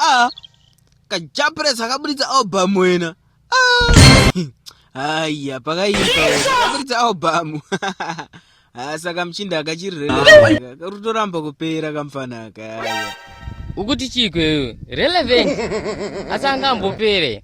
Ah, kajapres akaburitsa album wena haiya ah. pakaipa akaburitsa album ah, saka muchinda akachirirekarutoramba kupera kamfana aka ukuti chiko iwe relevant asi angambopere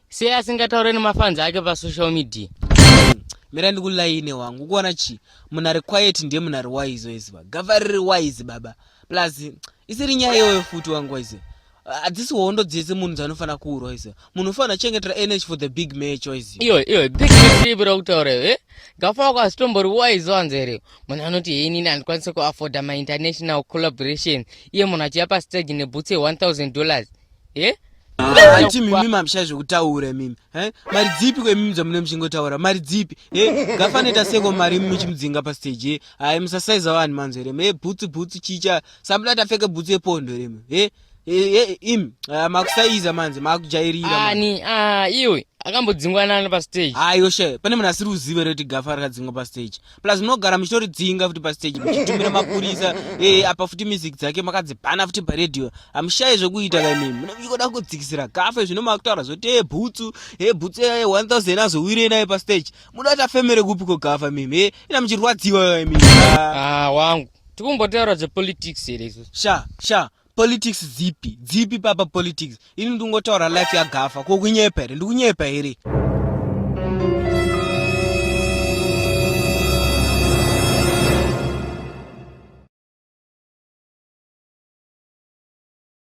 sei asingataure nemafans ake pasocial media mira ndikulaine wangu ukuona chii munhu ari quiet ndiye munhu ari wise weziva gava riri wise baba plus isiri nyaya iyoyo futi wangu wise hadzisi hondo dzese munhu dzanofanira kuurwa wise munhu ufanira chengetera energy for the big match wise iyo iyo big match ipi rakutaura e eh? gafa wako hazitombori wise wanzi here munhu anoti hei nini handikwanise kuafforda mainternational collaboration iye munhu achiya pastage nebhutsi ye 1000 dollars eh? hanti mimi mamisha zvekutaura mimi eh? mari dzipi kwemimi dzamune muchingotaura mari dzipi eh? gafanoita seko mari imi muchimudzinga pasteji eh? hai musasaiza vanhu manzo here me bhutsu bhutsu chicha sambuda tapfeka bhutsu yepondo here mi eh? eh, im ah, makusaiza manzi makujairira ani ah, iwe akambodzingwa nani pasteji ayo she pane munhu asiri uzive reti gafa rakadzingwa pasteji plus munogara muchitoridzinga futi pastage muchitumira mapurisa e, apa futi music dzake makadzibhana futi paradio hamushayi zvekuita kaimimi mune muchikoda kudzikisira gafe zvino makutaura zvoti e bhutsu e bhutsu e 1000 azowire naye pastage muda kuti afemere kupi ko gafa mimi e ina muchirwadziwa kaimimi ah, wangu tikumbotaura zvepolitics here sha sha politics dzipi dzipi papa politics ini ndingotaura life yagafa ko kunyepa here ndikunyepa here